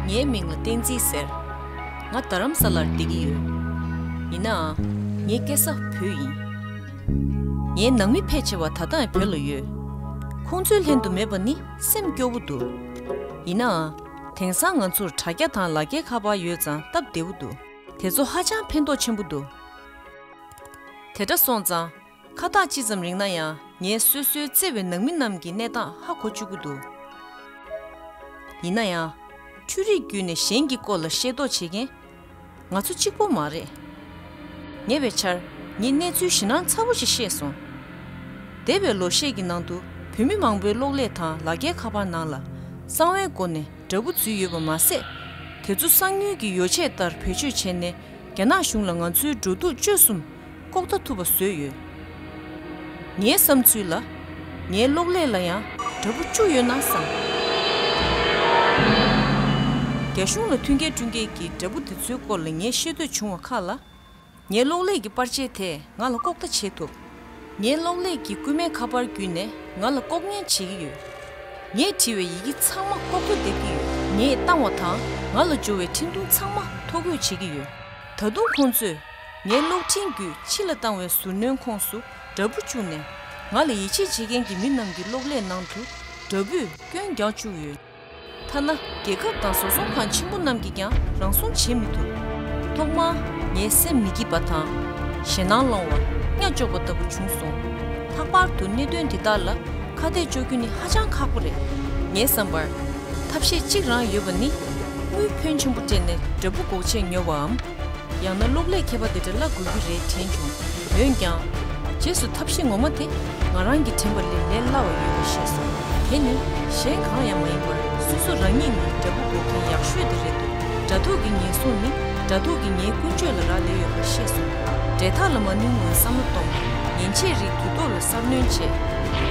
ངའི་མིང་ལ་བསྟན་འཛིན་ཟེར། ང་རྡ་རམ་ས་ལར་སྡད་ཀྱི་ཡོད། ཡིན་ནའང། ངའི་སྐད་ས་བོད་ཡིན། ངའི་ནང་མི་ཕལ་ཆེ་བ་ད་ལྟའང་བོད་ལ་ཡོད། ཁོང་ཚོའི་ལྷན་དུ་མེད་པ་ནི་སེམས་སྐྱོ་བོ་འདུག་ཡིན་ནའང། དེང་སང་ང་ཚོར་དྲ་རྒྱ་དང་ལ་རྒྱའི་ཁ་པར་ཡོད་ཙང་སྟབས་བདེ་བོ་འདུག་དེ་ཚོ་ཧ་ཅང་ཕན་ཐོགས་ཆེན་པོ་འདུག་དེ་དྲ་སོང་ཙང་ཁ་ཐག་ཅི་ཙམ་རིང་ན་ཡང་ངས་སོ་སོའི་བརྩེ་བའི་ནང་མི་རྣམས་ཀྱི་གནས་སྟངས་ཧ་གོ་བཅུག་གི་འདུག་ཡིན་ན་ཡང། འཕྲུལ་རིག་བརྒྱུད་ནས་གཞན་གྱི་སྐོར་ལ་ཤེས་རྟོགས་བྱེད་མཁན། ང་ཚོ་གཅིག་པོ་མ་རེད། ཉེ་བའི་ཆར་ངས་གནས་ཚུལ་བཞི་སྣང་ཚ་བོ་ཞིག་ཤེས་སོང། འདས་པའི་ལོ་ཤས་ཀྱི་ནང་དུ་བོད་མི་མང་པོའི་གློག་ཀླད་དང་ལག་ཁྱེར་ཁ་པར་ནང་ལ་གསང་བའི་སྒོ་ནས་དགྲ་བོ་འཛུལ་ཡོད་པ་མ་ཟད། དེ་ཚོ་གསང་ཉུལ་གྱི་ཡོ་བྱད་ལྟར་བེད་སྤྱོད་བྱས་ནས་རྒྱ་ནག་གཞུང་ལ་ང་ཚོའི་འགྲོ་འདུག་སྤྱོད་གསུམ་ལྐོག་ལྟ་ཐུབ་པ་བཟོས་ཡོད། ངའི་བསམ་ཚུལ་ལ། ངའི་གློག་ཀླད་ལ་ཡང་དྲ་འབུ་བཅུ་ཡོད་ན་བསམ། རྒྱ་གཞུང་ལ་མཐུན་རྐྱེན་བསྐྲུན་མཁན་གྱི་དྲ་འབུ་དེ་ཚོའི་སྐོར་ལ་ངས་ཤེས་འདོད་བྱུང་བ་ཁག་ལ། ངའི་གློག་ཀླད་ཀྱི་པར་ཆས་དེས་ང་ལ་ལྐོག་ལྟ་བྱེད་ཐུབ། ངའི་གློག་ཀླད་ཀྱི་རྐུན་མའི་ཁ་པར་བརྒྱུད་ནས་ང་ལ་ལྐོག་ཉན་བྱེད་ཀྱི་ཡོད། ངས་བྲིས་བའི་ཡི་གེ་ཚང་མ་ལྐོག་ཏུ་སྡེབ་ཀྱི་ཡོད། ངས་བཏང་བ་དང་ང་ལ་འབྱོར་བའི་འཕྲིན་ཐུང་ཚང་མ་ཐོ་འགོད་བྱེད་ཀྱི་ཡོད། ད་དུང་ཁོང་ཚོས་ངའི་གློག་འཕྲིན་བརྒྱུད་ཕྱི་ལ་བཏང་བའི་ཟུར་སྣོན་ཁོངས་སུ་དགྲ་བོ་བཅུག་ནས། ང་ལ་ཡིད་ཆེས་བྱེད་མཁན་གྱི་མི་རྣམས་ཀྱི་གློག་ཀླད་ནང་དུ་དགྲ་བོས་སྐྱོན་རྒྱག་བཅུག་ཡོད། ཐ་ན་རྒྱལ་ཁབ་དང་བཟོ་ཚོང་ཁང་ཆེན་པོ་རྣམས་ཀྱིས་ཀྱང་རང་སྲུང་བྱེད་མི་ཐུབ། ཐོག་མར་ངའི་སེམས་མི་སྐྱིད་པ་དང། ཞེད་སྣང་སློང་བ། གཉའ་གཅོག་པ་ལྟ་བུ་བྱུང་སོང། ལྷག་པར་དུ་གནད་དོན་འདི་དག་ལ་ཁ་གཏད་གཅོག་རྒྱུ་ནི་ཧ་ཅང་ཁག་པོ་རེད། ངའི་བསམ་པར། ཐབས་ཤེས་གཅིག་རང་ཡོད་པ་ནི། དངུལ་ཕོན་ཆེན་པོ་སྤྲད་ནས་དགྲ་བོ་འགོག་ཆེད་ཉོ་བའམ། ཡང་ན་གློག་ཀླད་མཁས་པ་དེ་འདྲ་བླ་དགོས་ཀྱི་རེད་དྲན་བྱུང། འོན་ཀྱང། རྗེས་སུ་ཐབས་ཤེས་ངོ་མ་དེ་ང་རང་གིས་དྲན་པ་ལས་ལས་སླ་བ་ཡོད་པས་ཤེས་སོང། དེ་ནི་གཞན་གང་ཡང་མ་ཡིན་པར་སོ་སོ་རང་ཉིད་ནི་དགྲ་བོ་འགོག་མཁན་ཡག་ཤོས་དེ་རེད་འདུག་དགྲ་ཐུག་གི་ངན་སོང་ནི་དགྲ་ཐུག་གི་ངའི་ཀུན་སྤྱོད་ལ་རག་ལས་ཡོད་པ་ཤེས་སོང། འབྲེལ་ཐག་ལ་མ་ནུས་ངོ་བསམ་བློ་གཏོང། ཉན་ཆས་རིགས་དུས་ཐོག་ལ། གསར་སྣོན་བྱེད།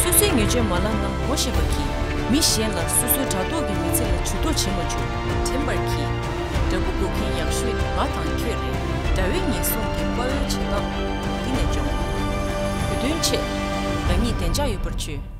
སོ་སོའི་ཉེས་སྤྱོད་མ་ལག་ནང་བགོ་བཤའ་བ་གྱིས་མི་གཞན་ལ་སོ་སོའི་དྲ་ཐོག་གི་མི་ཚེ་ལ་བྱུས་གཏོགས་བྱེད་མ་བཅུག་དྲན་པར་གྱིས། དྲ་འབུ་འགོ་མཁན་ཡག་ཤོས་ནི་ང་དང་ཁྱོད་རེད་དྲ་བའི་ཉེན་སྲུང་གི་དཔའ་བོའི་བྱེད་སྟངས་འདི་ནས་སྦྱོང། བོད་དོན་ཆེད། རང་ཉིད་བདེ་འཇགས་ཡོད་པར་བྱོས།